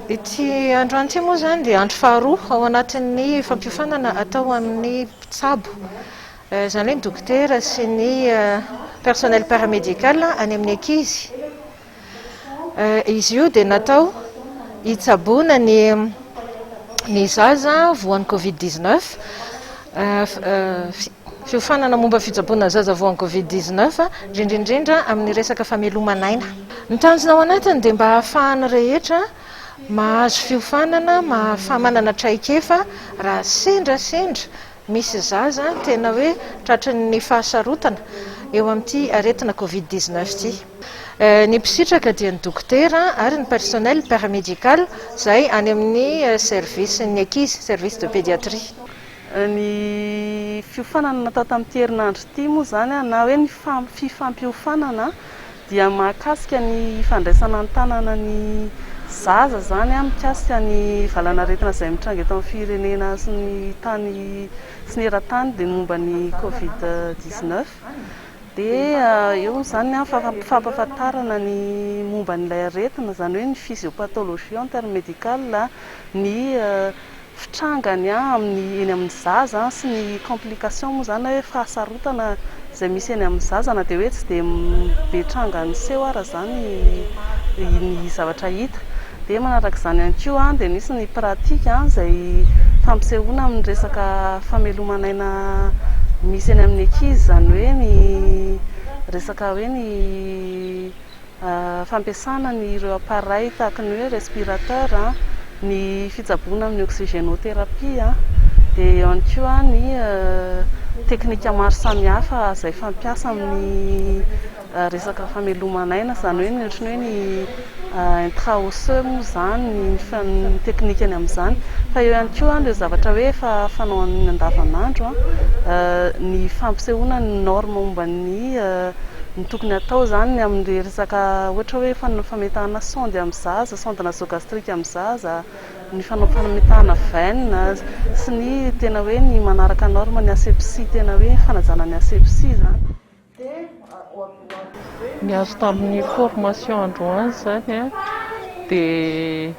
Ity andro anty moa izany dia andro faharoa ao anatin'ny fampiofanana atao amin'ny mpitsabo. Eh, izany hoe ny dokotera sy ny eh, personnel paramédical any amin'ny ankizy. Izy io dia natao hitsaboana ny ny zaza voan'ny covid dix neuf, fiofanana momba ny fitsaboana ny zaza voan'ny covid dix neuf, indrindra indrindra amin'ny resaka fameloman'aina. Ny tanjona ao anatiny dia mba hahafahan'ny rehetra mahazo fiofanana, mahafaha manana traikefa raha sendra sendra misy zaza tena hoe tratry ny fahasarotana eo amin'ity aretina covid dix neuf ity. Ny mpisitraka dia ny dokotera ary ny personnel paramédical izay any amin'ny service ny ankizy, service de pédiatrie. Ny fiofanana natao tamin'ity herinandro ity moa izany na hoe ny fifampiofanana dia mahakasika ny fandraisana an-tanana ny zaza izany mikasika ny valanaretina izay mitranga eto amin'ny firenena sy ny tany sy ny eran-tany dia ny momba ny covid dix neuf. Dia eo izany ny fampahafantarana ny momba an'ilay aretina, izany hoe ny physiopathologie en termes médical, ny fitrangany amin'ny eny amin'ny zaza sy ny complication moa izany na hoe fahasarotana izay misy eny amin'ny zaza na dia hoe tsy dia be tranga niseho ara izany ny zavatra hita. Dia manaraka izany ihany koa dia misy ny pratika izay fampisehoana amin'ny resaka fameloman'aina misy eny amin'ny ankizy, izany hoe ny resaka hoe ny fampiasana ny ireo appareils tahaka ny hoe respirateur, ny fitsaboana amin'ny oxygénothérapie, dia eo ihany koa ny teknika maro samihafa izay fampiasa amin'ny Resaka famelomana aina izany hoe ny ohatry ny hoe ny intra osseux moa izany, ny teknikany amin'izany. Fa eo ihany koa ireo zavatra hoe efa fanao amin'ny andavanandro, ny fampisehoana ny norme momba ny ny tokony hatao izany amin'ny resaka ohatra hoe fametahana sonde amin'ny zaza, sonde nasogastrique amin'ny zaza, ny fanao fametahana veine sy ny tena hoe ny manaraka norme ny asepsie tena hoe fanajana ny asepsie izany. Ny azo tamin'ny formation androany izany dia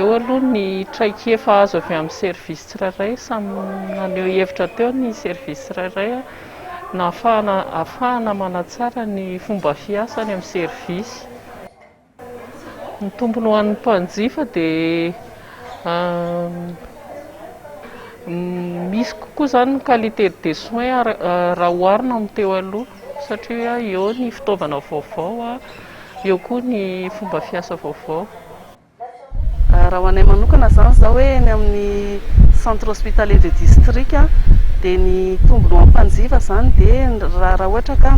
eo aloha ny traikefa azo avy amin'ny service tsirairay, samy naneho hevitra teo ny service tsirairay nahafahana manatsara ny fomba fiasa any amin'ny service. Ny tombony ho an'ny mpanjifa dia misy kokoa izany ny qualité des soins raha oharina amin'ny teo aloha satria eo ny fitaovana vaovao, eo koa ny fomba fiasa vaovao. Raha ho anay manokana izany izao hoe eny amin'ny centre hospitalier de district dia ny tombony ho an'ny mpanjifa izany dia raha ohatra ka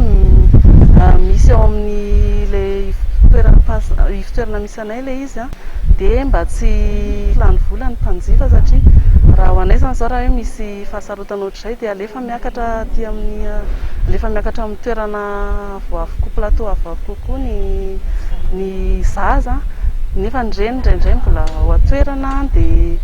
misy ao amin'ilay ivotoerana misy anay ilay izy dia mba tsy lany vola ny mpanjifa satria raha ho anay izany izao raha hoe misy fahasarotana ohatr'izay dia alefa Miakatra aty amin'ny, alefa miakatra amin'ny toerana avo avo koa, plateau avo avo kokoa ny ny zaza nefa ny reny indraindray mbola ao an-toerana dia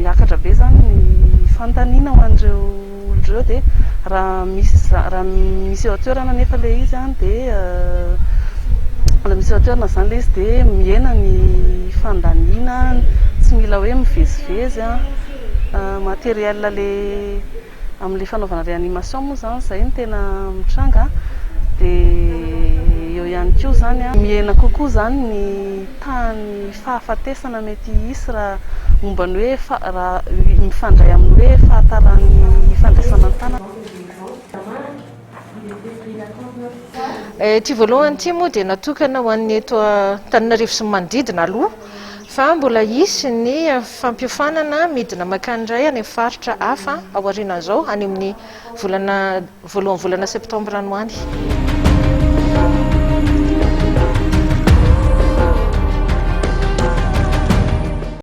miakatra be izany ny fanontaniana ho an'ireo olona ireo dia raha misy za- raha misy eo an-toerana nefa ilay izy an dia raha misy eo an-toerana izany ilay izy dia mihena ny fandaniana, tsy mila hoe mivezivezy an. Matériel le amle fanaovana réanimation moa zany zay no tena mitranga dia eo ihany koa zany a mihena kokoa zany ny tahan'ny fahafatesana mety hisy raha momba ny hoe raha mifandray amin'ny hoe fahataran'ny fandraisana an-tanana Ity voalohany ity moa dia natokana ho an'ny eto Antananarivo sy ny manodidina aloha fa mbola hisy ny fampiofanana midina mankany indray any amin'ny faritra hafa aorianan'izao any amin'ny volana voalohan'ny volana septambra any ho any.